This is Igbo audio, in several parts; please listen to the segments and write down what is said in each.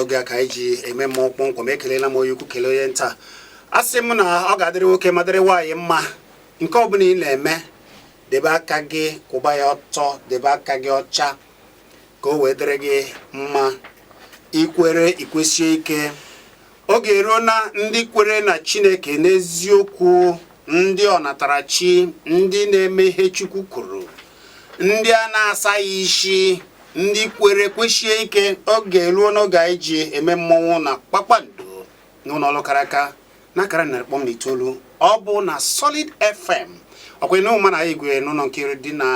oge a ka anyị ji eme mmụọ kpọmkwem ekelela m onye ukwu kelee onye nta a sị m na ọ ga-adịrị nwoke ma dịrị nwaanyị mma nke ọbụla ị na-eme debe aka gị kwụba ya ọtọ debe aka gị ọcha ka o wee dịrị gị mma i kwere i kwesie ike oge eruo na ndị kwere na Chineke n'eziokwu ndị ọnatarachi ndị na-eme ihe Chukwu kwuru ndị a na-asaghị isi ndị kwere kwesie ike oge eruo n'oge anyị ji eme mmọnwụ na kpakpando n'ụlọ ọrụ kara aka na akara narị kpọm na itoolu ọ bụ na Solid FM ọkwa na ụma na igwe n'ụlọ nke iri dị na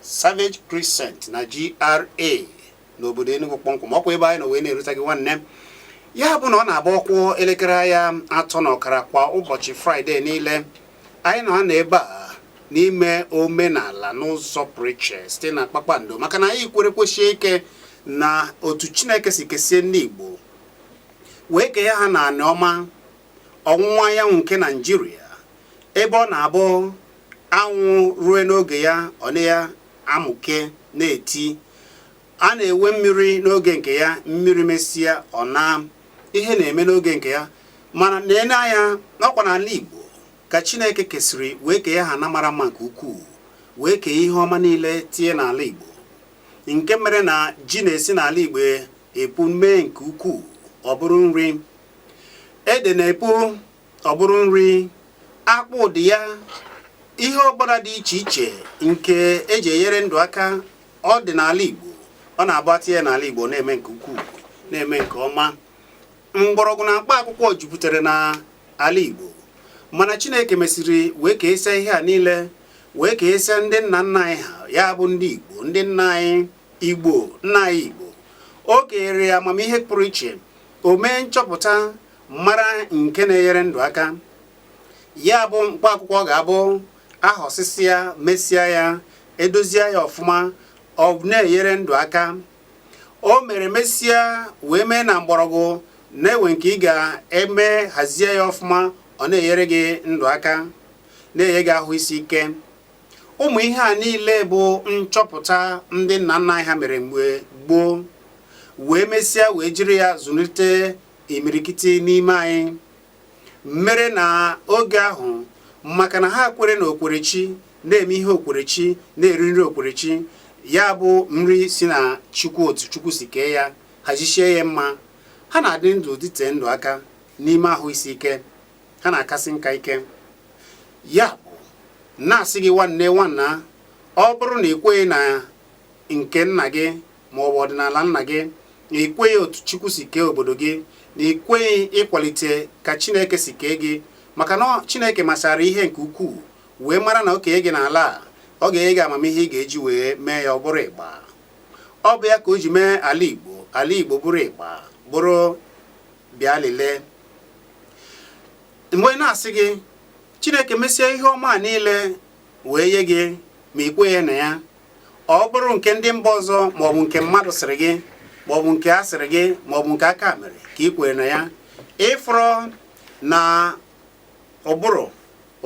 Savage Crescent na GRA n'obodo Enugu kpọmkwem ọkwa ebe anyị nọ wee na-erute gị nwanne ya bụ na ọ na-abụ ọ kụọ elekere ya atọ na ọkara kwa ụbọchị fraịde niile anyị nọ na ebe a na-eme omenala n'ụzọ pụrụ iche site na kpakpando maka na anyị kwere kwesie ike na otu chineke si kesie ndị igbo wee kee ha na anị ọma ọwụwa anyanwụ nke naijiria ebe ọ na-abụ anwụ rue n'oge ya ọ na ya amụke na-eti a na-enwe mmiri n'oge nke ya mmiri mesịa ọ na ihe na-eme n'oge nke ya mana e nee anya ọkwa n'ala Igbo ka Chineke kesịrị wee kee ha ana mara mma nke ukwuu wee kee ihe ọma niile tie n'ala Igbo nke mere na ji na-esi n'ala Igbo epu mee nke ukwuu ọ bụrụ nri ede na-epu ọ bụrụ nri akpụ ụdị ya ihe ọbụla dị iche iche nke e ji enyere ndụ aka ọ dị n'ala Igbo ọ na-abụ e tie ya n'ala Igbo na-eme nke ukwuu na-eme nke ọma mgbọrọgwụ na mkpa akwụkwọ jupụtara na ala Igbo mana Chineke mesịrị wee kesịa ihe a niile wee kesịa ndị nna nna anyị ha ya bụ ndị Igbo ndị nna anyị Igbo nna anyị Igbo o kere amamihe pụrụ iche o mee nchọpụta mara nke na-enyere ndụ aka ya bụ mkpa akwụkwọ ga-abụ a họsịsịa mesịa ya e dozie ya ọfụma ọ na-enyere ndụ aka o mere mesịa wee mee na mgbọrọgwụ na-enwe nke ị ga-eme hazie ya ọfụma ọ na-enyere gị ndụ aka na-enye gị ahụ isi ike ụmụ ihe a niile bụ nchọpụta ndị nna nna anyị ha mere mgbe gboo wee mesịa wee jiri ya zụlite imirikiti n'ime anyị mere na oge ahụ maka na ha kwere na okwerechi na-eme ihe okwerechi na-eri nri okwerechi ya bụ nri si na chukwu otu chukwu si kee ya hazichie ya mma ha na-adị ndụ dịte ndụ aka n'ime ahụ isi ike ha na-akasi nka ike ya na-asị gị nwanne nwanna ọ bụrụ na ị kweghị na nke nna gị ma ọ bụ ọdịnala nna gị na ị kweghị otu Chukwu si kee obodo gị na ị kweghị ịkwalite ka Chineke si kee gị maka na Chineke masara ihe nke ukwuu wee mara na o kenye gị n'ala a ọ ga-enye gị amamihe ị ga-eji wee mee ya ọ bụrụ ịgba ọ bụ ya ka o ji mee ala Igbo ala Igbo bụrụ ịgba bụrụ bịa lelee mgbe na-asị gị Chineke mesie ihe ọma niile wee nye gị ma ị kweghị na ya ọ bụrụ nke ndị mba ọzọ maọbụ nke mmadụ sịrị gị maọbụ nke a sịrị gị maọbụ nke aka mere ka ị kwere na ya ị fụrụ na ụbụrụ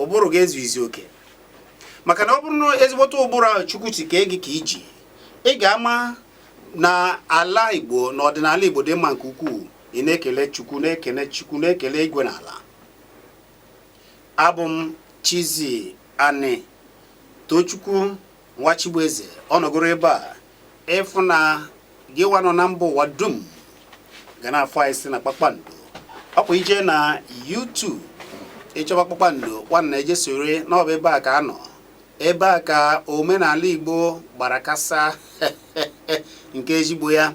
ụbụrụ gị ezughịzi oke maka na ọ bụrụ na ezigbote ụbụrụ ahụ chukwu si kee gị ka i ji ị ga-ama na ala igbo na ọdịnala igbo dị mma nke ukwuu ị na-ekele chukwu na-ekele chukwu na-ekele igwe na ala Abụ m Chizi Anị Tochukwu Nwachibueze ọnọgoro ebe a ị fụ na gị nwa nọ na mba ụwa dum ga na-afụ anyị si na kpakpando ọkwa i je na YouTube ị chọba kpakpando nwanna eje soro na ọ bụ ebe a ka a nọ ebe a ka omenala Igbo gbara kasaa nke ezigbo ya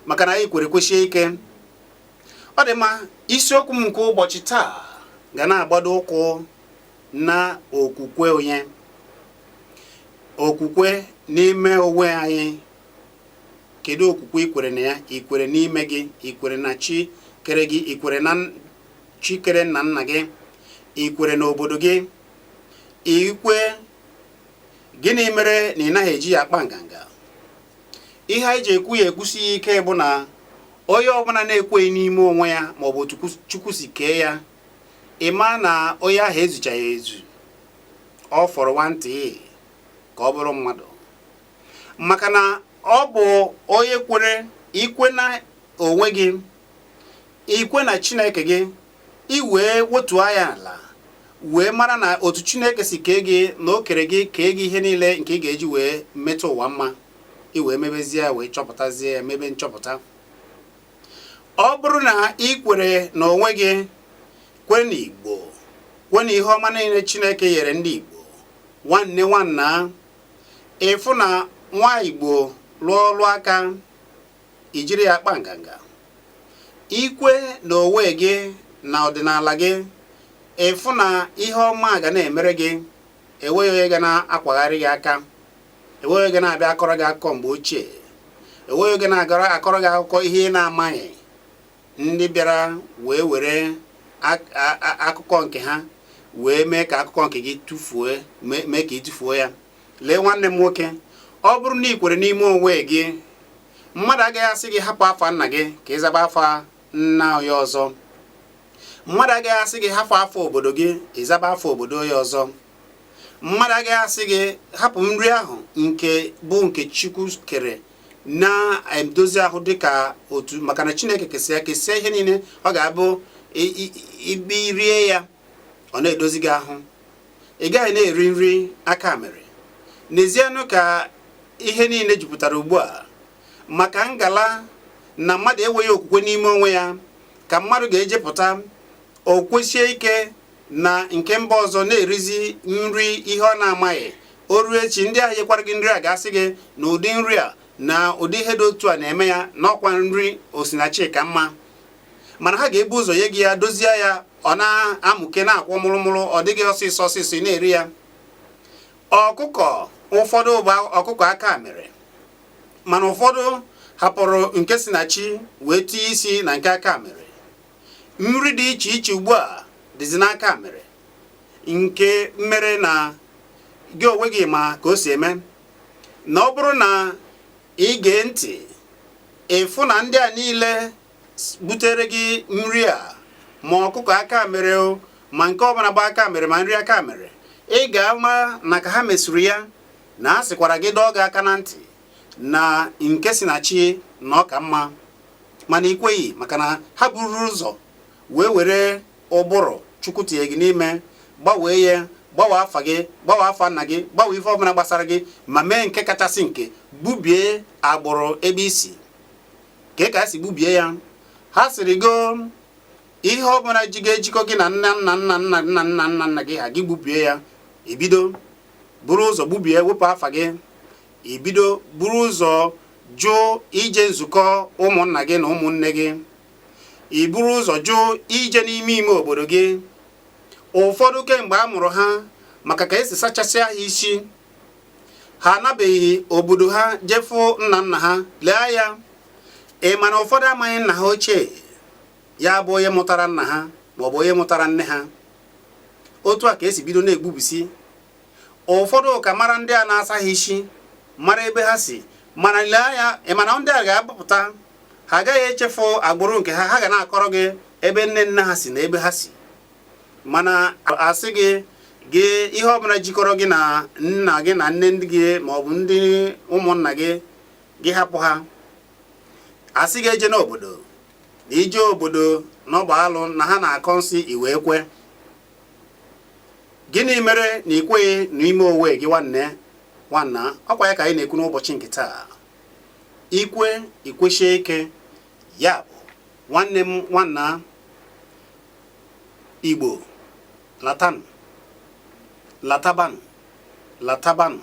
maka na anyị kwere kwesie ike ọ dị mma isiokwu m nke ụbọchị taa ga na-agbado ụkwụ na okwukwe onye okwukwe n'ime onwe anyị kedu okwukwe i kwere na ya i kwere n'ime gị i kwere na chi kere gị i kwere na chi kere nna nna gị i kwere na obodo gị i kwe gịnị mere na ị naghị eji ya akpa nganga ihe anyị ji ekwu ya ekwusi ya ike bụ na onye ọbụla na-ekweghị n'ime onwe ya maọbụ otu chukwu si kee ya ị ma na onye ahụ ezuchaghị ezu ọ fọrọ nwantịị ka ọ bụrụ mmadụ maka na ọ bụ onye kwere i kwe na onwe gị i kwe na chineke gị i wee wotuo anya ala wee mara na otu Chineke si kee gị na o kere gị kee gị ihe niile nke ị ga-eji wee metụ ụwa mma i wee mebezie ya wee chọpụtazie ya mebe nchọpụta ọ bụrụ na ị kwere na onwe gị kwe na Igbo kwe na ihe ọma niile Chineke nyere ndị Igbo nwanne nwanna ị fụ na nwa Igbo lụọ ọlụ aka i jiri ya kpa nganga i kwe n'onwe gị na ọdịnala gị ị fụ na ihe ọma ga na-emere gị enweghị onye ga na-akwagharị gị aka enweghị onye ga na-abịa akọrọ gị akụkọ mgbe ochie enweghị onye ga na-agara akọrọ gị akụkọ ihe ị na-amaghị ndị bịara wee were akụkọ nke ha wee mee ka akụkọ nke gị tụfuo mee ka ị tụfuo ya lee nwanne m nwoke ọ bụrụ na ị kwere n'ime onwe gị mmadụ agaghị asị gị hapụ afa nna gị ka ị zaba afa nna onye ọzọ mmadụ agaghị asị gị hapụ afa obodo gị ị zaba afa obodo onye ọzọ mmadụ agaghị asị gị hapụ nri ahụ nke bụ nke chukwu kere na-edozi ahụ dịka otu maka na chineke kesịa kesịa ihe niile ọ ga-abụ ibe rie ya ọ na-edozi gị ahụ ị gaghị na-eri nri aka mere nezienụ ka ihe niile jupụtara ugbu a maka ngala na mmadụ enweghị okwukwe n'ime onwe ya ka mmadụ ga-ejepụta o kwesie ike na nke mba ọzọ na-erizi nri ihe ọ na-amaghị o ruo echi ndị ahụ nyekwara gị nri a ga-asị gị na ụdị nri a na ụdị ihe dị otu a na-eme ya na ọ kwa nri osinachi ka mma mana ha ga-ebu ụzọ nye gị ya dozie ya ọ na-amụke na-akwọ mụrụmụrụ ọ dị gị ọsịsọ ọsịsọ ị na-eri ya ọkụkọ ụfọdụ bụ ọkụkọ aka mere mana ụfọdụ hapụrụ nke si na chi wee tinye isi na nke aka mere nri dị iche iche ugbu a dịzi n'aka mere nke mere na gị onwe gị ma ka o si eme na ọ bụrụ na ị gee ntị ị fụ na ndị a niile butere gị nri a ma ọkụkọ aka mere o ma nke ọbụla bụ aka mere ma nri aka mere ị ga-ama na ka ha mesuru ya na a sịkwara gị dọọ gị aka na ntị na nke si na chi na ọ ka mma mana ị kweghị maka na ha bururu ụzọ wee were ụbụrụ chukwu tinye gị n'ime gbanwee ya gbanwee afa gị gbanwee afa nna gị gbanwee ife ọbụla gbasara gị ma mee nke kachasị nke gbubie agbụrụ ebe i si kee ka e si gbubie ya ha sịrị go ihe ọ bụla ji ga-ejikọ gị na nna nna nna nna nna nna nna nna gị ha gị gbubie ya i bido buru ụzọ gbubie wepụ afa gị i bido buru ụzọ jụ ije nzukọ ụmụnna gị na ụmụnne gị i buru ụzọ jụ ije n'ime ime obodo gị ụfọdụ kemgbe a mụrụ ha maka ka e si sachasịa ha isi ha anabeghị obodo ha jee fụ nna nna ha lee anya ị ma na ụfọdụ amaghị nna ha ochie ya bụ onye mụtara nna ha maọbụ onye mụtara nne ha otu a ka esi bido na-egbubisi ụfọdụ ka mara ndị a na-asa ha isi mara ebe ha si mana lee anya ị ma na ndị a ga-apụta ha agaghị echefu agbụrụ nke ha ha ga na-akọrọ gị ebe nne nne ha si na ebe ha si mana a sị gị gị ihe ọbụla jikọrọ gị na nna gị na nne gị ma ọ bụ ndị ụmụnna gị gị hapụ ha a sị gị ejena obodo na ije obodo na ọ bụ alụ na ha na-akọ nsị i wee kwe gịnị mere na ị kweghị n'ime onwe gị nwanna ọkwa ya ka anyị na-ekwu n'ụbọchị nke taa i kwe i kwesie ike ya bụ nwanne m nwanna Igbo latanụ latabanụ latabanụ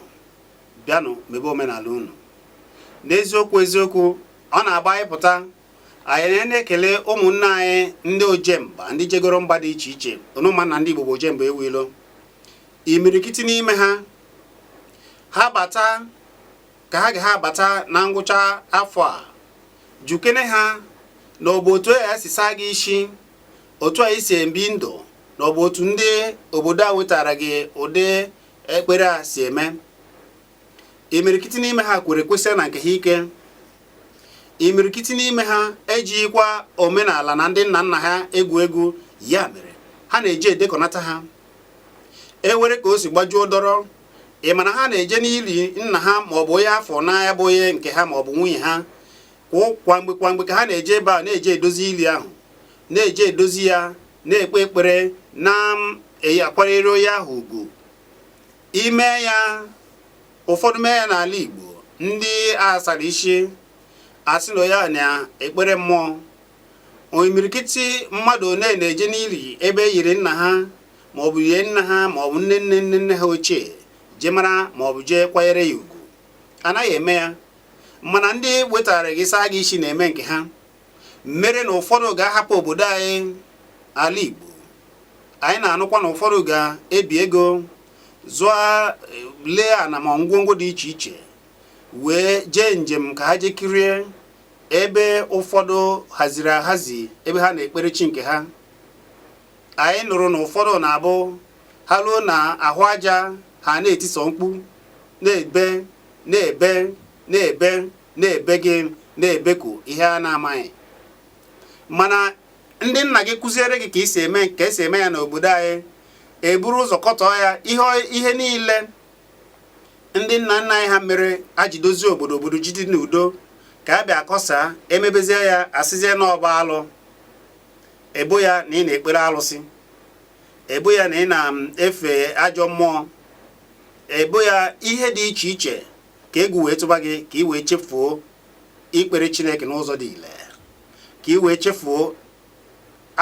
bịanụ mebe omenala unu n'eziokwu eziokwu ọ na-abụ anyị pụta anyị na-ekele ụmụnne anyị ndị ojemba ndị jegoro mba dị iche iche unu ma na ndị Igbo bụ ojemba enwe ilo imirikiti n'ime ha ha bata ka ha ga-abata na ngwụcha afọ a jụkene ha na ọ bụ otu a si saa gị isi otu anyị si ebi ndụ na ọ bụ otu ndị obodo a wetara gị ụdị ekpere a si eme imirikiti n'ime ha kwere kwesie na nke ha ike imirikiti n'ime ha ejighịkwa omenala na ndị nna nna ha egwu egwu ya mere ha na-eji edekọnata ha ewere ka o si gbajuo dọrọ ị ma na ha na-eje n'ili nna ha ma ọ bụ onye ha fụ n'anya bụ onye nke ha ma ọ bụ nwunye ha kwa mgbe kwa mgbe ka ha na-eje ebe a na-eje edozi ili ahụ na-eje edozi ya na-ekpe ekpere na-akwanyere onye ahụ ugwu i mee ya ụfọdụ mee ya n'ala Igbo ndị a sara isi asị na onye a na-ekpere mmụọ imirikiti mmadụ one na-eje n'ili ebe e yiri nna ha ma ọ bụ yie nna ha ma ọ bụ nne nne nne nne ha ochie jee mara ma ọ bụ jee kwanyere ya ugwu anaghị eme ya mana ndị wetara gị saa gị isi na-eme nke ha mere na ụfọdụ ga-ahapụ obodo anyị ala Igbo anyị na-anụkwa na ụfọdụ ga-ebi ego zụọ lee ana ma ngwongwo dị iche iche wee jee njem ka ha jee kirie ebe ụfọdụ haziri ahazi ebe ha na-ekpere chi nke ha anyị nụrụ na ụfọdụ na-abụ ha ruo na ahụ aja ha na-eti sọ mkpu na-ebe na-ebe na-ebe na-ebe gị na-ebeku ihe a na-amaghị mana ndị nna gị kụziere gị ka esi eme ya n'obodo anyị eburu ụzọ kọtọọ ya ihe niile ndị nna nna anyị ha mere e ji dozi obodo obodo ji dị n'udo ka a bịa akọsa emebezie ya asịzie na ọ bụ alụ ebo ya na ị na-ekpere alụsị ebo ya na ị na-efe ajọ mmụọ ebo ya ihe dị iche iche ka egwu wee tụba gị ka ị wee chefuo ikpere Chineke n'ụzọ dị ile ka ị wee chefuo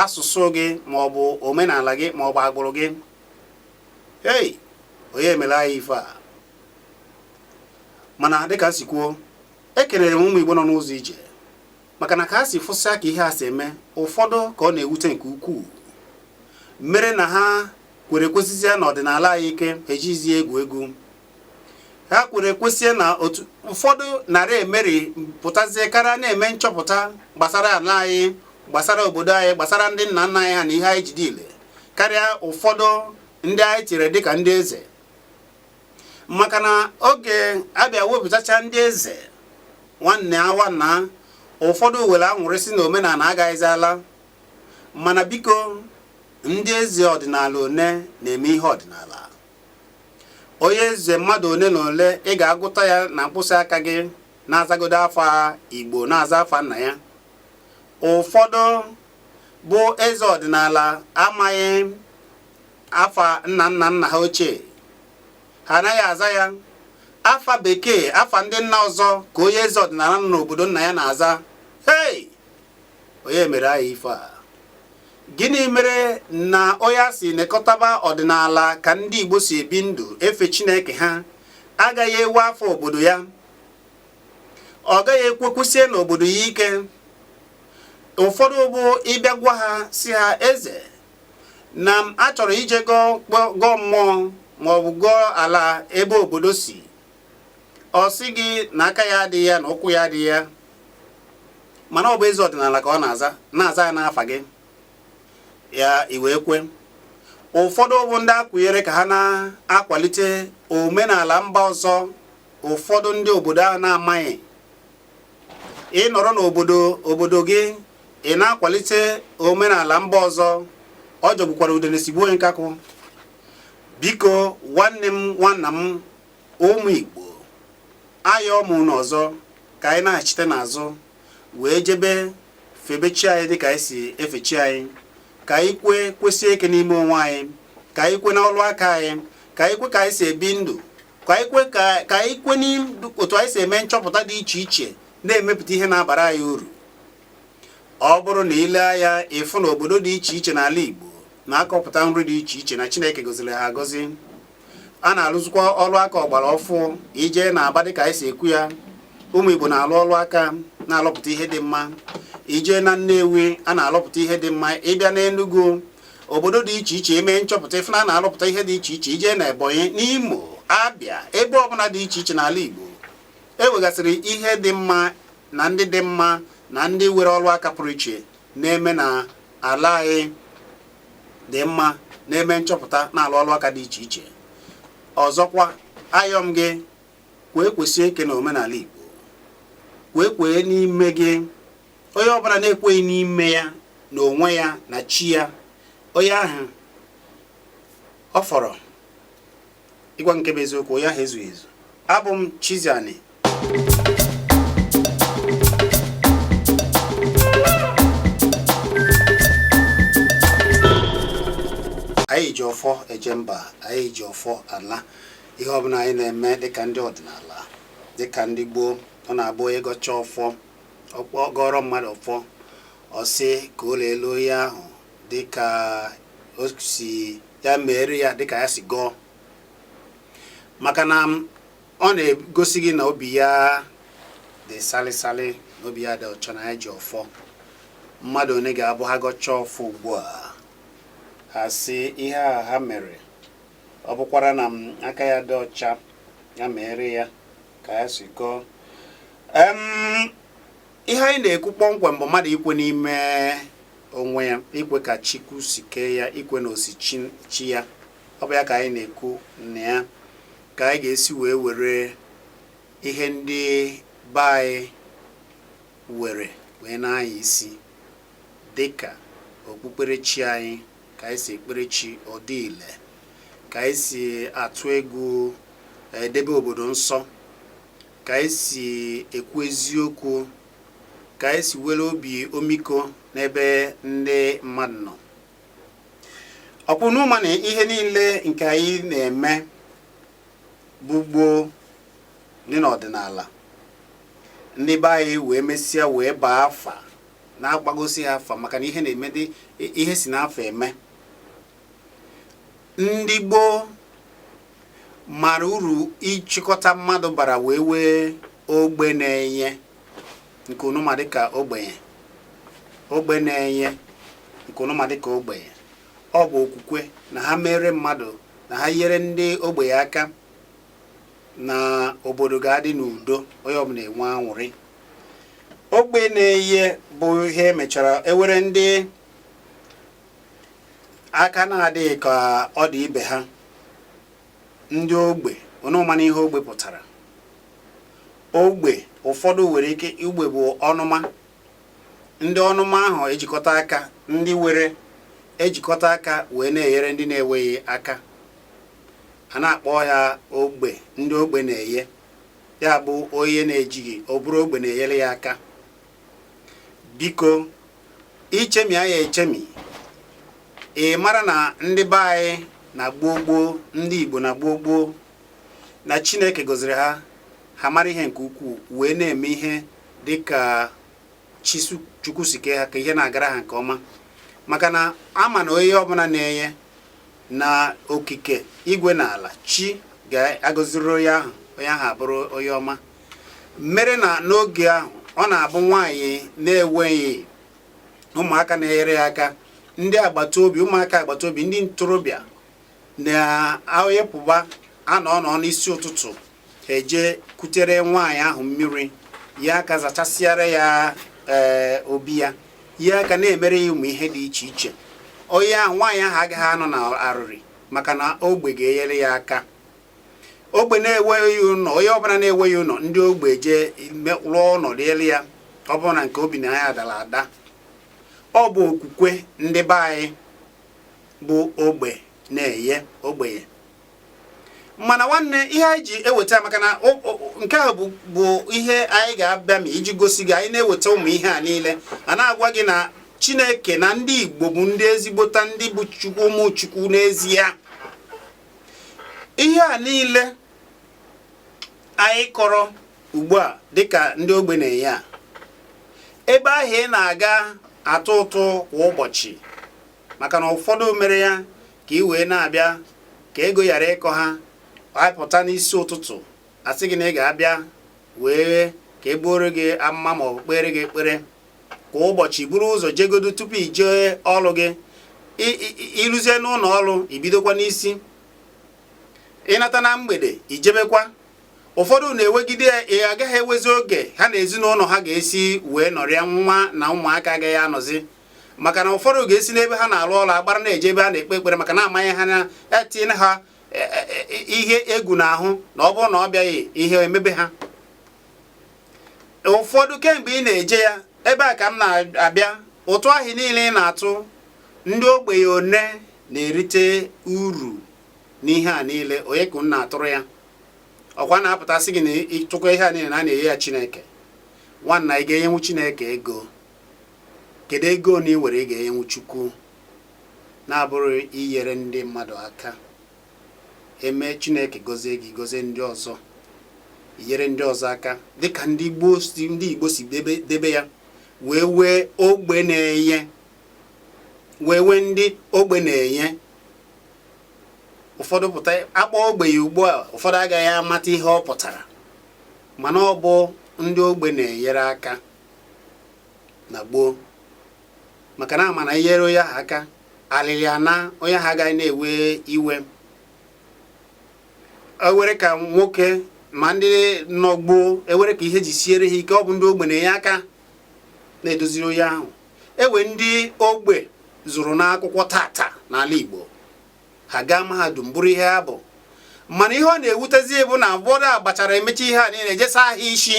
asụsụ gị ma ọ bụ omenala gị ma ọ bụ agbụrụ gị hei onye mere anyị ife a mana dịka si kwuo ekelere m ụmụ Igbo nọ n'ụzọ ije maka na ka ha si fụsịa ka ihe a si eme ụfọdụ ka ọ na-ewute nke ukwuu mere na ha kwere kwesizie na ọdịnala anyị ike ejizie egwu egwu ha kwere kwesie na otu ụfọdụ narị emeri pụtazie karịa na-eme nchọpụta gbasara ala anyị gbasara obodo anyị gbasara ndị nna nna anyị ha na ihe anyị ji dị ile karịa ụfọdụ ndị anyị chiri dịka ndị eze maka na oge a bịa wepụtacha ndị eze nwanne awa na ụfọdụ were anwụrị sị na omenala agaghịzi ala mana biko ndị eze ọdịnala one na-eme ihe ọdịnala onye eze mmadụ one na ole ị ga-agụta ya na mkpụsị aka gị na-azagodo afa igbo na-aza afa nna ya ụfọdụ bụ eze ọdịnala amaghị afa nna nna nna ha ochie ha anaghị aza ya afa bekee afa ndị nna ọzọ ka onye eze ọdịnala nọ n'obodo nna ya na-aza hei onye mere anyị ife a gịnị mere na onye a sị nekọtaba ọdịnala ka ndị Igbo si ebi ndụ efe Chineke ha agaghị ewe afọ obodo ya ọ gaghị ekwekwusie n'obodo ya ike ụfọdụ bụ ị bịa gwa ha sị ha eze na m achọrọ ije gọọ mmụọ ma ọ bụ gọọ ala ebe obodo si ọ sị gị na aka ya adịghị ya na ụkwụ ya adịghị ya mana ọ bụ eze ọdịnala ka ọ na-aza na-aza ya n'afa gị ya iwe kwe ụfọdụ bụ ndị a kwụnyere ka ha na-akwalite omenala mba ọzọ ụfọdụ ndị obodo ahụ na-amaghị ị nọrọ n'obodo obodo gị ị na-akwalite omenala mba ọzọ ọ jọgbukwara udene sigbuo onye nkakwụ biko nwanne m nwanna m ụmụ Igbo ayọ m unu ọzọ ka anyị nachite n'azụ wee jebe febe chi anyị dịka anyị si efe chi anyị ka anyị kwe kwesie ike n'ime onwe anyị ka anyị kwe n'ọlụ aka anyị ka anyị kwe ka anyị si ebi ndụ ka anyị kwe n'otu anyị si eme nchọpụta dị iche iche na-emepụta ihe na-abara anyị uru ọ bụrụ na i lee anya ị fụ na obodo dị iche iche n'ala Igbo na-akọpụta nri dị iche iche na Chineke goziri ha agọzi a na-alụzikwa ọrụ aka ọgbara ọfụụ i jee n'Aba dịka anyị si ekwu ya ụmụ Igbo na-alụ ọlụ aka na-alụpụta ihe dị mma i jee na Nnewi a na-alụpụta ihe dị mma ị bịa n'Enugu obodo dị iche iche e mee nchọpụta ị fụ na a na-alụpụta ihe dị iche iche i jee na Ebonyi n'Imo Abịa ebe ọbụla dị iche iche n'ala Igbo e nwegasịrị ihe dị mma na ndị dị mma na ndị nwere ọrụ aka pụrụ iche na-eme na ala anyị dị mma na-eme nchọpụta na-alụ ọrụ aka dị iche iche ọzọkwa ayọ m gị kwee kwesie ike na omenala Igbo kwee kwee n'ime gị onye ọbụla na-ekweghị n'ime ya na onwe ya na chi ya onye ahụ ọ fọrọ ịgwa nke bụ eziokwu onye ahụ ezughị ezu abụ m Chiziani anyị ji ọfọ eje mba anyị ji ọfọ ala ihe ọbụla anyị na-eme dịka ndị ọdịnala dịka ndị gboo ọ na-abụ ị gọcha ọfọ gọọrọ mmadụ ọfọ ọ sị ka o leelu onye ahụ dịka ọ sị ya meere ya dịka ya si gọọ maka na ọ na-egosi gị na obi ya dị salịsalị na obi ya dị ọcha na ya ji ọfọ mmadụ onye ga-abụ ha gọcha ọfọ ugbu a ha sị ihe a ha mere ọ bụkwara na aka ya dị ọcha ya meere ya ka ya si gọọ ihe anyị na-ekwu kpọmkwem bụ mmadụ ikwe n'ime onwe ya ikwe ka Chukwu si kee ya ikwe na osi chi ya ọ bụ ya ka anyị na-ekwu na ya ka anyị ga-esi wee were ihe ndị be anyị were wee na-anya isi dịka okpukperechi anyị ka anyị si ekpere chi ọ dị ile ka anyị si atụ egwu edebe obodo nsọ ka anyị si ekwu eziokwu ka anyị si were obi omiko n'ebe ndị mmadụ nọ ọ kwa unu ma na ihe niile nke anyị na-eme gboo gboo dị n'ọdịnala ndị be anyị wee mesịa wee baa afa na-agbagosi ya afa maka na ihe na-eme dị ihe si n'afa eme ndị Igbo mara uru ịchịkọta mmadụ bara wee wee ogbe na-enye nke unu ma dịka ogbenye ogbe na-enye nke unu ma dịka ogbenye ọ bụ okwukwe na ha mere mmadụ na ha nyere ndị ogbenye aka na obodo ga-adị n'udo onye ọbụla enwe anwụrị ogbe na-enye bụ ihe e mechara e were ndị aka na-adịghị ka ọ dị ibe ha ndị ogbe unu manụ ihe ogbe pụtara ogbe ụfọdụ nwere ike ogbe bụ ọnụma ndị ọnụma ahụ ejikọta aka ndị nwere ejikọta aka wee na-enyere ndị na-enweghị aka a na-akpọ ya ogbe ndị ogbe na-enye ya bụ onye na-ejighị ọ bụrụ ogbe na-enyere ya aka biko i chemie ya echemi ị mara na ndị be anyị na gboo gboo ndị Igbo na gboo gboo na Chineke gọziri ha ha mara ihe nke ukwuu wee na-eme ihe dịka chi chukwu si kee ha ka ihe na-agara ha nke ọma maka na a ma na onye ọbụla na-enye na okike igwe na ala chi ga-agọziri onye ahụ onye ahụ abụrụ onye ọma mere na n'oge ahụ ọ na-abụ nwaanyị na-enweghị ụmụaka na-enyere ya aka ndị agbata obi ụmụaka agbata obi ndị ntorobịa na ha ya-apụba anọ nọ n'isi ụtụtụ ha eje kutere nwaanyị ahụ mmiri ya aka zachasịara ya ee eh, obi ya ya aka na-emere ya ụmụ ihe dị iche iche onye ahụ nwaanyị ahụ agaghị anọ n'arịrị maka na ogbe ga-enyere ya aka ogbe na-enweghị ụlọ onye ọbụla na-enweghị ụlọ ndị ogbe je rụọ ụlọ dịrị ya ọ bụrụ na nke o bi na ya dara ada ọ bụ okwukwe ndị be anyị bụ ogbe na-enye ogbenye mana nwanne ihe anyị ji eweta maka na nke a bụ ihe anyị ga-abịa ma iji gosi gị anyị na-eweta ụmụ ihe a niile a na-agwa gị na chineke na ndị igbo bụ ndị ezigbote ndị bụ chukwu ụmụ chukwu n'ezie ihe a niile anyị kọrọ ugbu a dịka ndị ogbe na-enye a ebe ahụ ị na-aga atụ ụtụ kwa ụbọchị maka na ụfọdụ mere ya ka ị wee na-abịa ka ego ghara ịkọ ha apụta n'isi ụtụtụ asị gị na ị ga-abịa wee ka e buoro gị amụma ma ọ bụ kpere gị ekpere kwa ụbọchị buru ụzọ jegodo tupu i jee ọrụ gị iruzie n'ụlọ ọrụ ibidokwa n'isi ịnata na mgbede ijebekwa ụfọdụ na-ewegide ya ị agaghị enwezi oge ha na ezinụlọ ha ga-esi wee nọrịa ha na ụmụaka agaghị anọzi maka na ụfọdụ ga-esi n'ebe ha na-alụ ọrụ agbara na-eje ebe a na-ekpe ekpere maka na amanye ha na etinye ha e, e, e, ihe egwu n'ahụ na ọ bụrụ na ọ bịaghị ihe emebe ha ụfọdụ kemgbe ị na-eje ya ebe a ka m na-abịa ụtụ ahụ niile ị na-atụ ndị ogbenye one na-erite uru n'ihe a niile onye ka m na-atụrụ ya ọkwa na-apụta sị gị na ịtụkọ ihe a niile na a na-enye ya Chineke nwanna ị ga-enyenwu Chineke ego Kedu ego one i nwere ị ga-enyenwu Chukwu na-abụrọ inyere ndị mmadụ aka? Eme Chineke gọzie gị gọzie ndị ọzọ inyere ndị ọzọ aka dịka ndị Igbo si debe ya wee nwee ogbe na-enye wee nwee ndị ogbe na-enye ụfọdụ pụta akpọ ogbenye ugbu a ụfọdụ agaghị amata ihe ọ pụtara mana ọ bụ ndị ogbe na-enyere aka na gboo maka na ama na inyere onye ahụ aka alịlị ana onye ahụ agaghị na-ewe iwe enwere ka nwoke ma ndị nọ gboo enwere ka ihe ji siere ha ike ọ bụ ndị ogbe na-enye aka na-edoziri onye ahụ enwee ndị ogbe zụrụ n'akwụkwọ tata n'ala Igbo ha gaa mahadum bụrụ ihe ha bụ mana ihe ọ na-ewutezi bụ na ụfọdụ agbachara emecha ihe a niile jee saa ha isi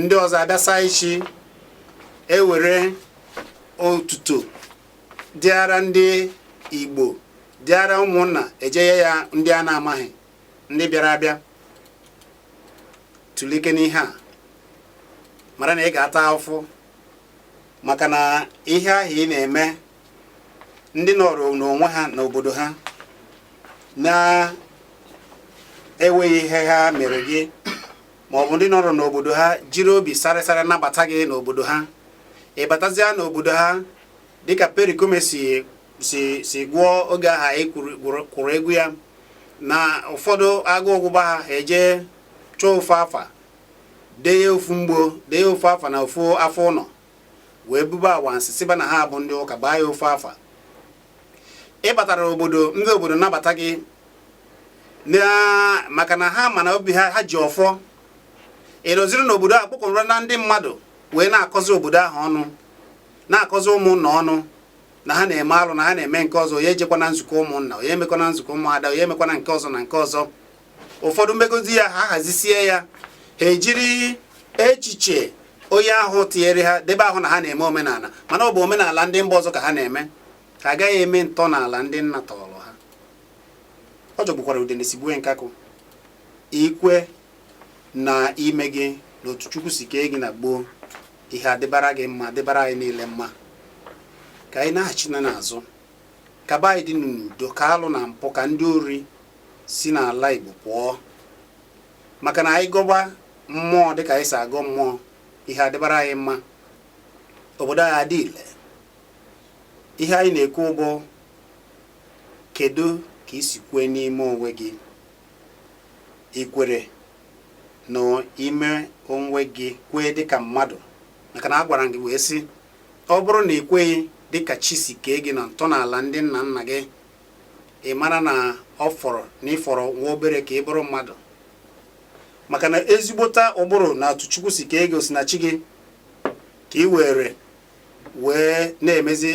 ndị ọzọ abịa saa isi ewere otuto dịara ndị Igbo dịara ụmụnna ejenye ya ndị a na-amaghị ndị bịara abịa tulekene ihe a mara na ị ga-ata afụfụ maka na ihe ahụ ị na-eme ndị nọrọ n'onwe ha n'obodo ha na-enweghị ihe ha mere gị ma ọ bụ ndị nọrọ n'obodo ha jiri obi sarịsarị nabata gị n'obodo ha ị batazịa n'obodo ha dịka Pericoma si gụọ oge aha anyị kwuru egwu ya na ụfọdụ agụụ gụba ha eje chọọ ofu afa dee ya ofu mgbo dee ya ofu afa na ofu afọ ụnọ wee buba awansị sịba na ha bụ ndị ụka gbaa ya ofu afa ị batara obodo ndị obodo nabata gị maka na ha ma na obi ha ha ji ọfọ ị nọziri n'obodo a kpọkọrọ na ndị mmadụ wee na-akọzi obodo ahụ ọnụ na-akọzi ụmụnna ọnụ na ha na-eme alụ na ha na-eme nke ọzọ ya ejekwana nzukọ ụmụnna onye emekwana nzukọ ụmụada onye emekwana nke ọzọ na nke ọzọ ụfọdụ megozi ya ha hazisie ya ha ejiri echiche onye ahụ tinyere ha debe ahụ na ha na-eme omenala mana ọ bụ omenala ndị mba ọzọ ka ha na-eme ha agaghị eme ntọala ndị nna tọrọ ha ọ jọgbukwara udene sigbue nkakwụ i kwe na ime gị na otu chukwu si kee gị na gboo ihe adịbara gị mma dịbara anyị niile mma ka anyị naghachinụ n'azụ Ka be anyị dị n'udo ka alụ na mpụ ka ndị ori si n'ala Igbo pụọ maka na anyị gọba mmụọ dịka anyị si agọ mmụọ ihe adịbara anyị mma obodo anyị adị ile ihe anyị na-ekwu bụ kedu ka i si kwee n'ime onwe gị i kwere na ime onwe gị kwee dịka mmadụ maka na a gwara gị wee sị Ọ bụrụ na ị kweghị dị ka chi si kee gị na ntọala ndị nna nna gị, ị mara na ọ fọrọ na ị fọrọ nwa obere ka ị bụrụ mmadụ. Maka na ezigbota ụbụrụ na otu Chukwu si kee gị osinachi gị ka ị were wee na-emezi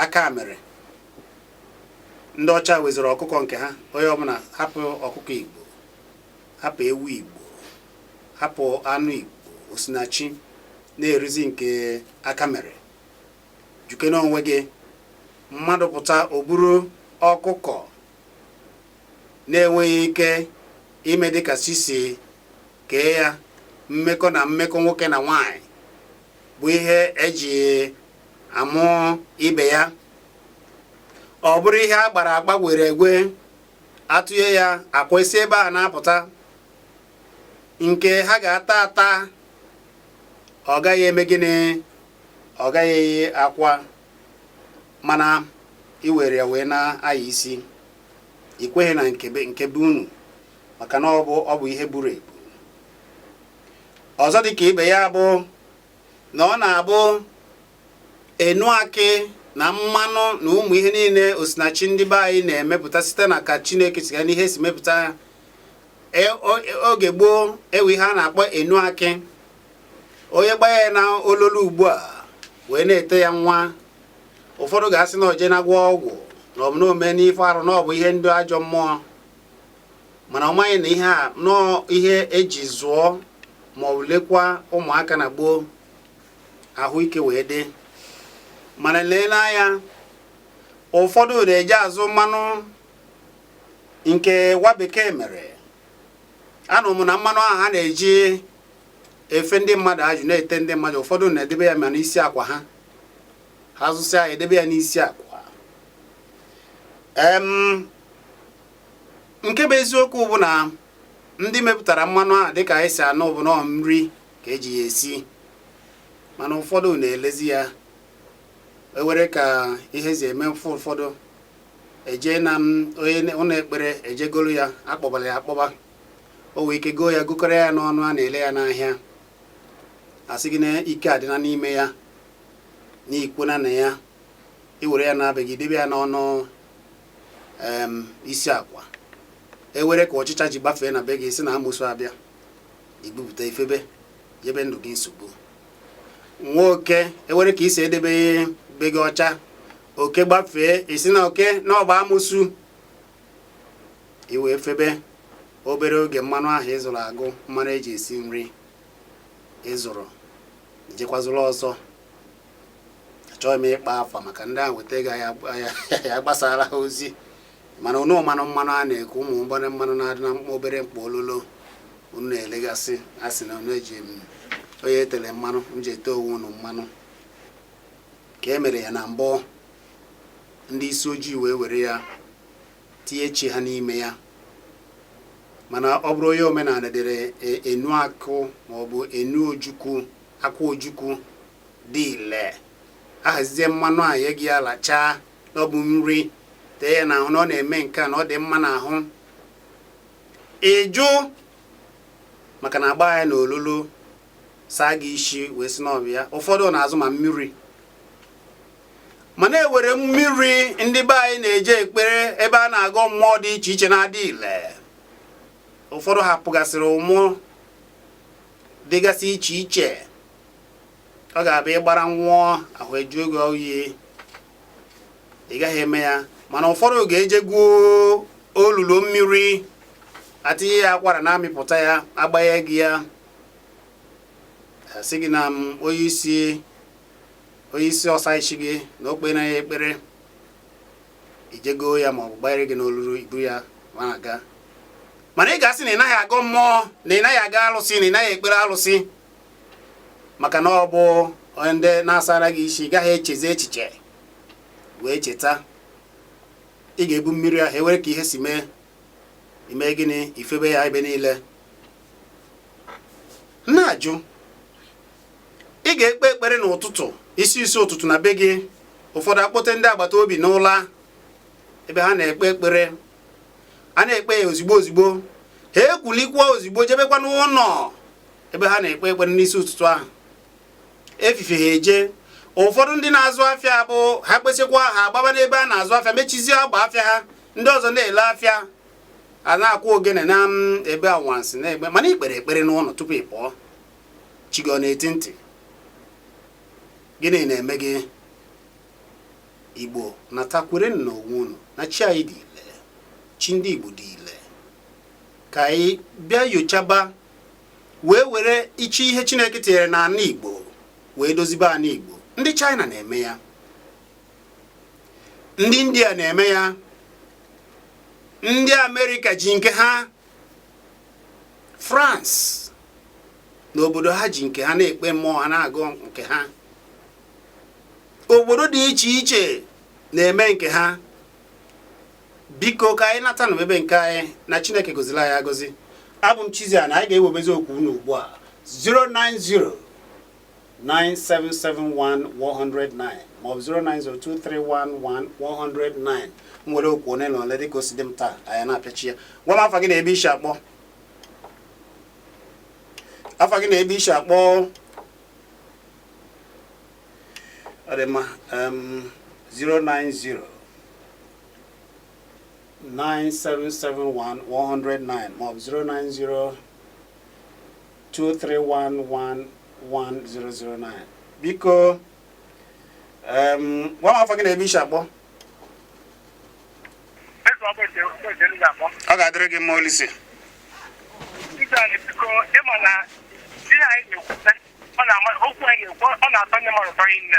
aka mere. Ndị ọcha weziri ọkụkọ nke ha, onye ọbụla hapụ ọkụkọ Igbo, hapụ ewu Igbo, hapụ anụ Igbo, osinachi. na-erizi nke aka mere jụkee n'onwe gị mmadụ pụta o buru ọkụkọ na-enweghị ike ime dịka chi si kee ya mmekọ na mmekọ nwoke na nwanyị bụ ihe eji amụ ibe ya ọ bụrụ ihe a gbara agba were igwe atụnye ya akwa si ebe a na-apụta nke ha ga-ata ata ọ gaghị eme gịnị ọ gaghị eyi akwa mana i were ya wee na-anya isi i kweghị na nke be unu maka na ọ bụ ihe buru ebu ọzọ dị ka ibe ya bụ na ọ na-abụ enu akị na mmanụ na ụmụ ihe niile osinachi ndị be anyị na-emepụta site na ka Chineke si gwa anyị ihe e si mepụta e, oge gboo enwe ihe a na-akpọ enu akị onye gbaa ya na ololo ugbu a wee na-ete ya nwa ụfọdụ ga-asị na o je na-agwọ ọgwụ na ọ bụ na o mena ife arụ na ọ bụ ihe ndị ajọ mmụọ mana ọ maghị na ihe a na ọ ihe eji zụọ ma ọ lekwa ụmụaka na gboo ahụike wee dị mana lee n'anya ụfọdụ na-eje azụ mmanụ nke nwa bekee mere anụ m na mmanụ ahụ ha na-eji efe ndị mmadụ ajụ na-ete ndị mmadụ ụfọdụ na-edebe ya ma n'isi akwa ha ha zụsịa ya edebe ya n'isi akwa nke bụ eziokwu bụ na ndị mepụtara mmanụ ahụ dịka anyị si anụ bụ na ọ nri ka eji ya esi mana ụfọdụ na-elezi ya enwere ka ihe si eme mfe ụfọdụ eje na onye ụlọ ekpere eje goro ya akpọbara ya akpọba o nwee ike goo ya gokọrọ ya n'ọnụ a na-ele ya n'ahịa asị gị na ike adịna n'ime ya na i kwena na ya i were ya naa be gị i debe ya n'ọnụ isi akwa enwere ka ọchịcha ji gbafee na be gị sị na amosu abịa i bupụta i febe nyebe ndụ gị nsogbu nwoke enwere ka i si edebe be gị ọcha oke gbafee ị sị na oke na ọ bụ amosu i wee febe obere oge mmanụ ahụ ị zụrụ agụ mmanụ eji esi nri ị zụrụ jekwa zụrụ ọzọ achọghị m ịkpọ afa maka ndị ahụ weta ego anyị agbasara ha ozi mana unu manụ mmanụ a na-ekwu ụmụ obere mmanụ na-adị na mkpa obere mkpa ololo unu na-elegasị a sị na unu eji onye etere mmanụ m ji ete onwe unu mmanụ ka e mere ya na mbụ ndị isi ojii wee were ya tinye chi ha n'ime ya mana ọ bụrụ onye omenala dere e, enu akụ maọbụ enu ojukwu akwụ ojukwu dị ile ahazizie mmanụ a nye gị alachaa na ọ bụ nri tee ya n'ahụ na ọ na-eme nke a na ọ dị mma n'ahụ ị jụ maka na agba ya na ololo saa gị isi wee sị na ọ bụ ya ụfọdụ na-azụ ma mmiri mana enwere mmiri ndị be anyị na-eje ekpere ebe a na-agọ mmụọ dị iche iche na-adị ile ụfọdụ hapụgasịrị ụmụ dịgasị iche iche ọ ga-abụ ị gbara ṅụọ ahụ ajụọ gị oyi ị gaghị eme ya mana ụfọdụ ga-eje gwuo olulu mmiri atinye ya akwara na-amịpụta ya agbanye gị ya asị gị na onye isi onye isi ọsa isi gị na o kpee na ya ekpere i jego ya ma ọ bụ gbanyere gị n'ololo i bu ya na-aga mana ị ga-asị na ị naghị agọ mmụọ na ị naghị aga alụsị na ị naghị ekpere alụsị maka na ọ bụ ndị na-asara gị isi ị gaghị echezi echiche wee cheta ị ga-ebu mmiri ahụ e were ka ihe si mee i mee gịnị i febe ya ebe niile na-ajụ ị ga-ekpe ekpere n'ụtụtụ isi isi ụtụtụ na be gị ụfọdụ akpọte ndị agbata obi n'ụlọ ebe ha na-ekpe ekpere a na-ekpe ya ozigbo ozigbo ha ekwulikwa ozigbo jebekwa n'ụlọ ebe ha na-ekpe ekpere n'isi ụtụtụ ahụ efife ha eje ụfọdụ ndị na-azụ afịa bụ ha kpesịkwa ha agbaba n'ebe a na-azụ afịa mechizie agba afịa ha ndị ọzọ na-ele afịa a na-akụ ogene na ebe anwansị na egbe mana ikpere ekpere n'ụlọ tupu ị pụọ chi gị ọ na-echi ntị gịnị na-eme gị igbo nata kwere na onwe unu na chi anyị dị ile chi ndị igbo dị ile ka anyị bịa yochaba wee were ichi ihe chineke tinyere na ana igbo wee dozibe ana igbo ndị china na-eme ya ndị india na-eme ya ndị amerịka ji nke ha france n'obodo ha ji nke ha na-ekpe mmụọ ha na-agọ nke ha obodo dị iche iche na-eme nke ha biko ka anyị nata na ebe nke anyị na chineke gọzila anyị agọzi abụ m Chizzy na anyị ga-ewebezi okwu unu ugbu a 090 97711109 maọbụ 09023111109 m were okwu one na ole dịka o si dị m taa anyị na-apịachi ya gwa m afa gị na ebe i si akpọ afa gị na ebe i si akpọ ọ dị mma 090 9771 1109 maọbụ 090 23111109 biko gwa m afa gị na ebe i si akpọ ọ ga-adịrị gị mma olise ọ na-atọ ndị mmadụ tọrọ nne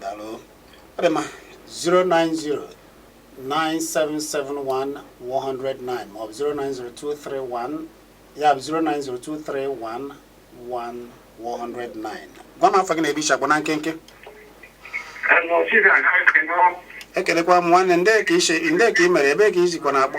Daalụ. Ọ dị mma. 090-9771-1109 maọbụ 090-2311 ya bụ 090-2311-1109. Gwa m afa gị na ebe i si akpọ na nkenke. Ekelekwa m nwanne ndị ka i si ndị ka i mere ebee ka i sikwa na-akpọ.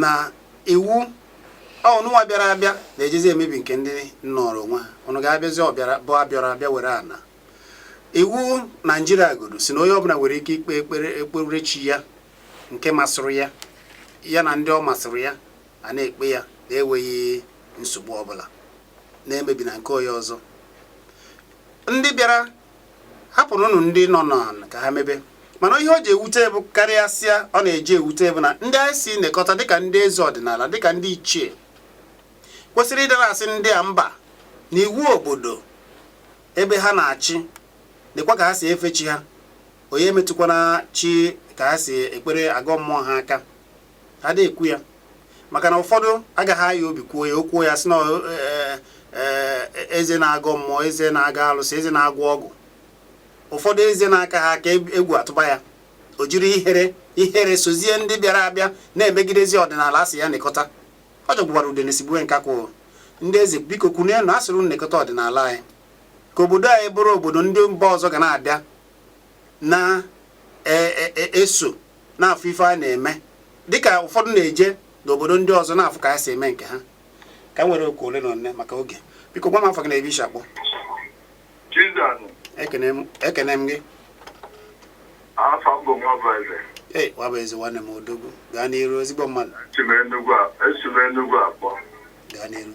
na iwu ụnụnwa bịara abịa na-ejezi emebi nke ndị nọrọ onwe ha ụnụ ga-abịazi bụ abịara abịa were ana iwu naijiria godu sị na onye ọbụla nwere ike ikpe ekpere chi ya nke masịrị ya ya na ndị ọ masịrị ya a na-ekpe ya na-enweghị nsogbu ọbụla na-emebi na nke onye ọzọ ndị bịara hapụrụnụ ndị nọnụ ka ha mebe mana ihe o ji ewute bụ karịasịa ọ na-eji ewute bụ na ndị anyị sị nekọta dịka ndị eze ọdịnala dịka ndị ichie kwesịrị ịdara asị ndị a mba na iwu obodo ebe ha na-achị nekwa ka ha si efe chi ha onye emetụkwana chi ka ha si ekpere agọ mmụọ ha aka ada ekwu ya maka na ụfọdụ agaghị aka obi kwuo ya o kwuo ya sị na e, e, e, eze na-agọ mmụọ eze na-agọ alụsị eze na-agwọ ọgwụ ụfọdụ eze na-akaha aka egwu atụba ya o jiri ihere sozie ndị bịara abịa na-emegidezi ọdịnala a sị ya nekọta ọ jọgbukwara udene sigbue nkakwụ ndị eze biko kunienụ a sịrị nekọta ọdịnala anyị ka obodo anyị bụrụ obodo ndị mba ọzọ ga na-abịa na-eso e, e, na-afụ ife a na-eme dịka ụfọdụ na-eje n'obodo ndị ọzọ na-afụ ka ha si eme nke ha ka m were oku ole na ole maka oge biko gwa m afa gị na ebe i si akpọ ekene m gị ee Nwabụeze nwanne m odogwu gaa n'iru ezigbo mmadụ gaa n'iru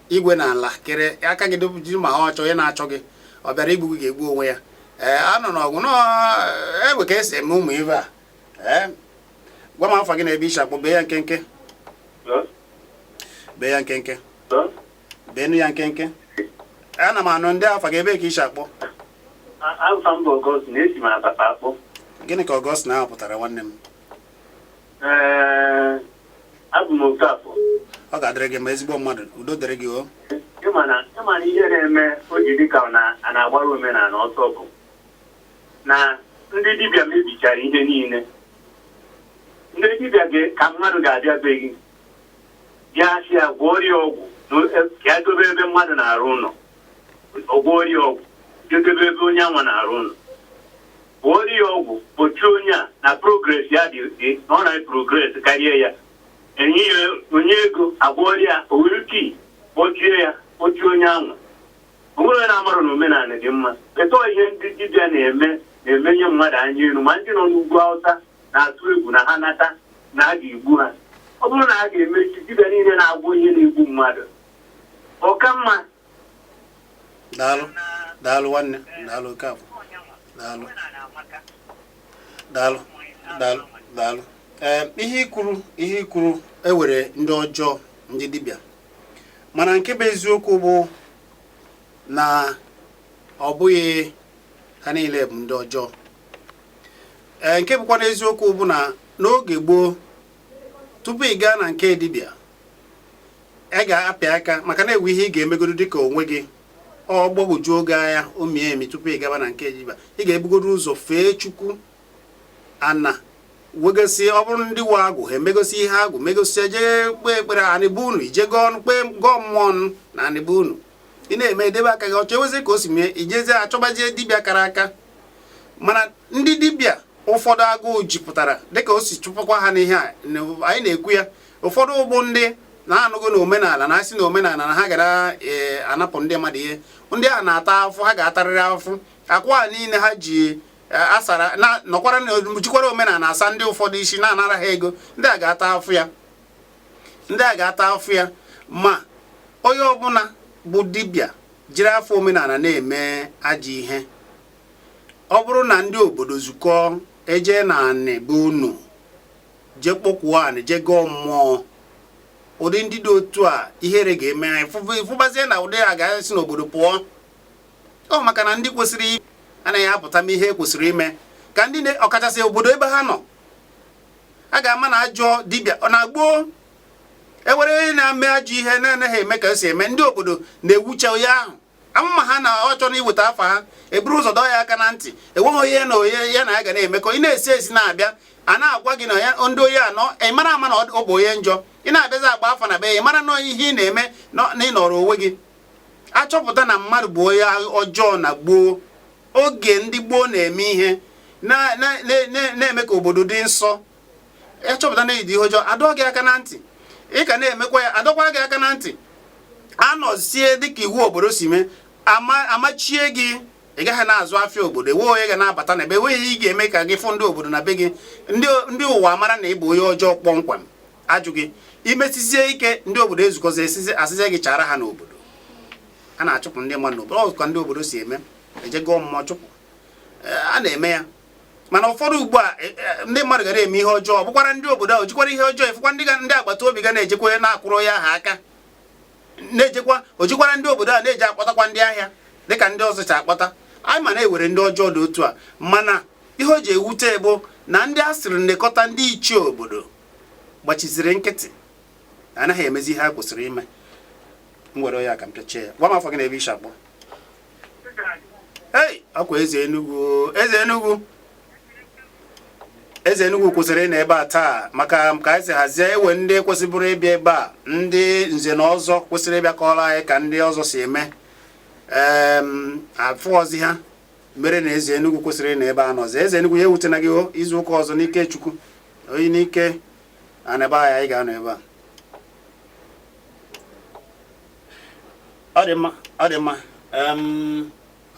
igwe na ala kere aka gị jiri ma ha ọchọ onye na-achọ gị ọ bịara igbu gị ga-egbu onwe ya ee a nọ n'ọgwụ n'egbe ka e si eme ụmụ ibe a ee gwa m afa gị na ebe i shi akpọ bee ya nkenke bee ya nkenke beenu ya nkenke ana m anụ ndee afa gị ebee ka i shi akpọ gịnị ka Augustine ahụ pụtara nwanne m Ee, abụ m Okafọ. ọ ga-adịrị gị mma ezigbo mmadụ udo dịrị gị o Ị ma na ị ma na ihe na-eme o ji dị ka ọ na- a na-agbara omenala ọsọ bụ na ndị dibịa mebichara ihe niile. Ndị dibịa ga- ka mmadụ ga-abịa be gị bịa sị ya gwọọ ya ọgwụ na- ka ya dobe ebe mmadụ na-arụ ụlọ. ọ gwọọrọ ya ọgwụ je debe ebe onye anwa na-arụ ụlọ gwọọrọ ya ọgwụ kpọchie onye a na progress ya dị dị na ọ na-progress karịa ya e nye ya onye ego a gwọọrọ ya o were key kpọchie ya kpọchie onye anwa o nwerọ onye na-amarọ na omenala dị mma but ọ ihe ndị dibịa na-eme na-emenye mmadụ anya elu ma ndị nọ n'ugwu awụsa na-atụ egwu na ha nata na a ga-egbu ha ọ bụrụ na a ga-emechi dibịa niile na-agwọ ihe na-egbu mmadụ Ọ ka mma. Daalụ, daalụ nwanne, daalụ Okafọ. Daalụ. Daalụ, daalụ, daalụ. Ee, ihe i kwuru ihe i kwuru e nwere ndị ọjọọ ndị dibịa mana nke bụ eziokwu bụ na ọ bụghị ha niile bụ ndị ọjọọ ee nke bụkwanụ eziokwu bụ na n'oge gboo tupu ị gaa na nke dibịa a ga-apịa aka maka na e nwe ihe ị ga-emegodo dịka onwe gị ọ gbagwojuo gị anya o mie emi tupu ị gaba na nke dibịa ị ga-ebugodo ụzọ fee chukwu ana wegosi ọ bụrụ ndị nwe agwụ ha emegosi ihe agwụ megosi jee kpee ekpere anị be unu i jee gọọ ọnụ kpee gọọ mmụọ ọnụ na anị be unu ị na-eme edebe aka gị ọcha e nwezi ka o si mee i jezie achọbazie dibịa kara aka mana ndị dibịa ụfọdụ agụụ jipụtara dịka o si chụpụkwa ha n'ihe a anyị na-ekwu ya ụfọdụ bụ ndị na-anọghị na omenala na-asị na omenala na ha gara e, anapụ ndị mmadụ ihe ndị a na-ata afụfụ ha ga-atarịrị afụfụ akwa niile ha ji e, asara na nọkwara na jikwara omenala asa ndị ụfọdụ isi na-anara ha ego ndị a ga-ata afụfụ ya ndị a ga-ata afụfụ ya ma onye ọbụla bụ dibịa jiri afa omenala na-eme ajọ ihe ọ bụrụ na ndị obodo zukọọ eje na anị be unu je kpọkuo anị je gọọ mmụọ ụdị ndị dị otu a ihere ga-eme ha ị fụbazie na ụdị a ga-esi n'obodo pụọ ọ maka na ndị kwesịrị anaghị apụta mee ihe kwesịrị ime ka ndị ọkachasị obodo ebe ha nọ a ga-ama na ajọ dibịa na gboo e nwere onye na-eme ajọ ihe na-anaghị eme ka o si eme ndị obodo na-ewucha onye ahụ amụma ha na ọ chọrọ iweta afa ha eburu ụzọ dọọ ya aka na ntị enweghị onye na onye ya na ya ga na-emekọ ị na-esi esi na-abịa a na-agwa gị na ya ndị onye a nọ ị mara ama na ọ bụ onye njọ ị na-abịazi agba afa na be ya ị mara na ihe ị na-eme na ị nọrọ onwe gị a chọpụta na mmadụ bụ onye ọjọọ na gboo oge ndị gboo na-eme ihe na-eme ka obodo dị nsọ a chọpụta na i ji ihe ọjọọ a dọọ gị aka na ntị ị ka na-emekwa ya a dọkwaa gị aka na ntị anọzie dịka iwu obodo si mee amachie gị ị gaghị na-azụ afịa obodo enweghị onye ga na-abata na be gị enweghị ihe ga-eme ka gị fụ ndị obodo na be gị ndị ụwa mara na ị bụ onye ọjọọ kpọmkwem a jụ gị i mesizie ike ndị obodo ezukọzi esizi asịzie gị chara ha n'obodo a na-achụpụ ndị mmadụ n'obodo ọ ka ndị obodo si eme e jee gọọ mmụọ chụpụ a na-eme ya mana ụfọdụ ugbu a e, e, ndị mmadụ ga na-eme ihe ọjọọ ọ bụkwara ndị obodo ahụ jikwara ihe ọjọọ efekwa ndị ndị agbata obi ga na-ejekwa onye na-akwụrụ ya ha aka na-ejekwa o jikwara ndị obodo a na-eji akpọtakwa ndị ahịa dịka ndị ọzọ si akpọta anyị ma na e were ndị ọjọọ dị otu a mana ihe o ji ewute bụ na ndị a sịrị nekọta ndị ichie obodo gbachiziri nkịtị anaghị emezi ihe ha kwesịrị ime m were ya ka m pịachie ya gwa m afa gị na ebe i shi akpọ ei ọkwa eze Enugu eze Enugu eze Enugu kwesịrị nọ ebe a taa maka ka anyị si hazie ewe ndị kwesịbụrụ ịbịa ebe a ndị nze na ọzọ kwesịrị ịbịa kọọrọ anyị ka ndị ọzọ si eme afụọzi ha mere na eze Enugu kwesịrị nọ ebe a anọzi eze Enugu ya ewutena gị izu ụka ọzọ n'ike Chukwu oyi n'ike ana be anyị anyị ga-anọ ebe a ọ dị mma ọ dị mma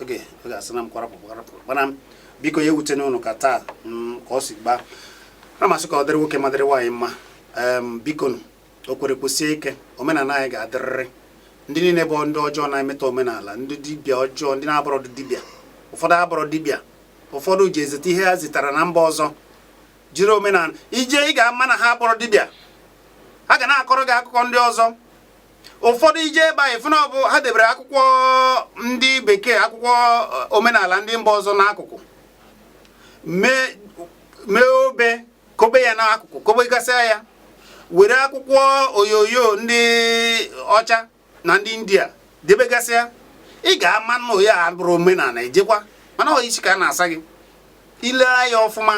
oge oge asịna m kwarapụ kwarapụ mana biko ya ewutena unu ka taa mm, ka ọ si gbaa na masị ka ọ dịrị nwoke mma dịrị nwaanyị mma biko unu kwere kwụsie ike omenala anyị ga-adịrịrị ndị niile bụ ndị ọjọọ na-emetọ omenala ndị dibịa ọjọọ ndị na-abụrọ dibịa ụfọdụ abụrọ dibịa ụfọdụ ji ezite ihe ha zitara na mba ọzọ jiri omenala i je ị ga-ama na ha abụrọ dibịa ha ga na-akọrọ gị akụkọ ndị ọzọ ụfọdụ i je be ha ị fụ n'obu ha debere akwụkwọ ndị bekee akwụkwọ eh, omenala ndị mba ọzọ n'akụkụ mee obe kobe ya n'akụkụ kobegasịa ya were akwụkwọ oyoyo ndị ọcha na ndị india debegasịa ị ga-ama na onye a abụrọ omenala ejekwa mana ọ isi ka a na-asa gị ile anya ọfụma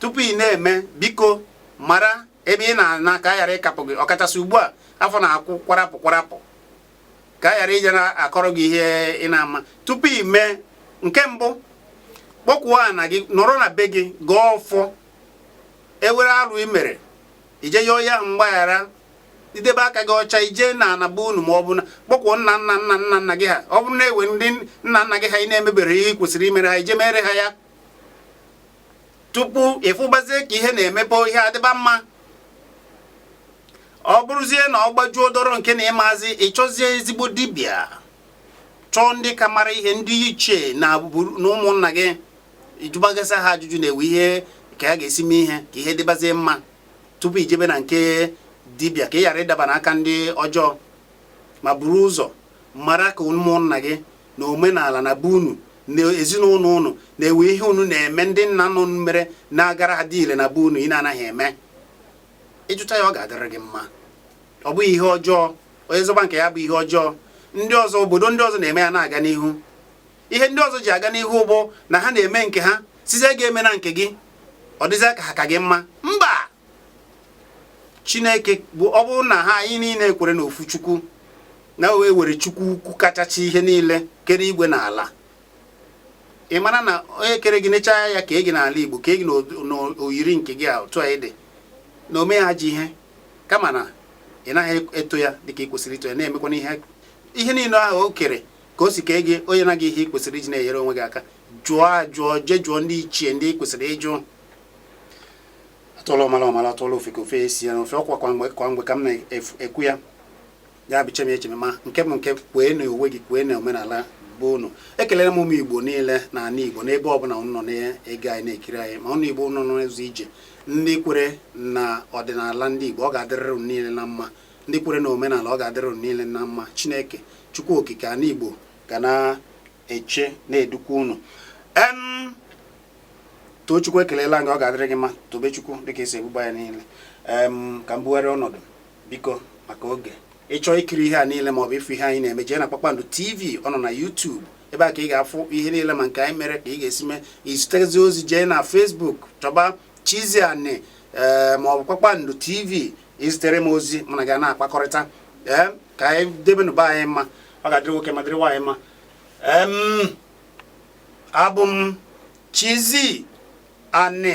tupu ị na-eme biko mara ebe ị na-ana ka a ghara ịkapụ gị ọkachasị ugbu a afọ na-akụ kwarapụ kwarapụ ka a ghara ije na-akọrọ gị ihe ị na-ama tupu ị mee nke mbụ kpọkwuo ana gị nọrọ na be gị gọọ ọfọ e were arụ i mere i je yọọ ya mgbaghara i debe aka gị ọcha i je n'ana be unu ma ọ bụ na kpọkwuo nna nna nna nna nna gị ha ọ bụrụ na ewe ndị nna nna gị ha ị na-emebere ihe ị kwesịrị imere ha i je mere ha ya tupu ị fụbazie ka ihe na-emepe ihe adịba mma ọ bụrụzie na ọ gbajuo dọrọ nke na ị mazi ị chọzie ezigbo dibịa chọọ ndị ka mara ihe ndị ichie na ụmụnna gị ị jụbagasịa ha ajụjụ na e we ihe ka a ga-esi mee ihe ka ihe dịbazie mma tupu i jebe na nke dibịa ka ị ghara ịdaba n'aka ndị ọjọọ ma buru ụzọ mara ka ụmụnna gị na omenala na be unu na ezinụlọ unu na-ewe ihe unu na-eme ndị nna unu mere na-agara ha adị ile na be unu ị na-anaghị eme ịjụta ya ọ ga-adịrị gị mma ọ bụghị ihe ọjọọ onye zọba nke ya bụ ihe ọjọọ ndị ọzọ obodo ndị ọzọ na-eme ya na-aga n'ihu ihe ndị ọzọ ji aga n'ihu bụ na ha na-eme nke ha sịzie gị emena nke gị ọ dịzịa ka ha ka gị mma mba chineke bụ ọ bụrụ na ha anyị niile kwere na ofu chukwu na e nwere chukwu ukwu kachacha ihe niile kere igwe na ala ị mara na onye kere gị nechaa anya kee gị n'ala igbo kee gị na oyiri nke gị a otu a ị dị na o meghị ajọ ihe kama na ị naghị eto ya dịka ị kwesịrị ito ya na-emekwana ihe ihe niile ahụ o kere ka o si kee gị o nyena gị ihe ị kwesịrị iji na-enyere onwe gị aka jụọ ajụọ jee jụọ ndị ichie ndị ị kwesịrị ịjụ atụọla ọmara ọ mara atụọla ofeke o fee isi ya na ọfịa ọkwa kwa mgbe ka m na-ekwu ya ya bụ cheme echeme ma nke bụ nke kwee na onwe gị kwee na omenala be unu ekelere m ụmụ igbo niile na ala igbo n'ebe ọbụla unu nọ na-ege anyị na-ekiri anyị ma ụmụ igbo unu nọ n'ụzọ ije ndị kwere na ọdịnala ndị igbo ọ ga-adịrịrị unu niile na mma ndị kwere na omenala ọ ga-adịrị unu niile na mma chineke chukwu okike ala igbo ga na-eche na-edukwa unu Tochukwu ekelela m gị ọ ga-adịrị gị mma Tobechukwu dịka esi ebuba ya niile ka m bugharịa ọnọdụ biko maka oge ị chọọ ikiri ihe a niile maọbụ ịfụ ihe anyị na-eme jee na Kpakpando TV ọ nọ na YouTube ebe a ka ị ga-afụ ihe niile ma nke anyị mere ka ị ga-esi mee izitezi ozi jee na Facebook chọba Chizzy Ani maọbụ Kpakpando TV i zitere m ozi mụ na gị na-akpakọrịta ee ka anyị debenụ be anyị mma ọ ga-adịrị nwoke ma dịrị nwaanyị mma Abụ m Chizzy Ani.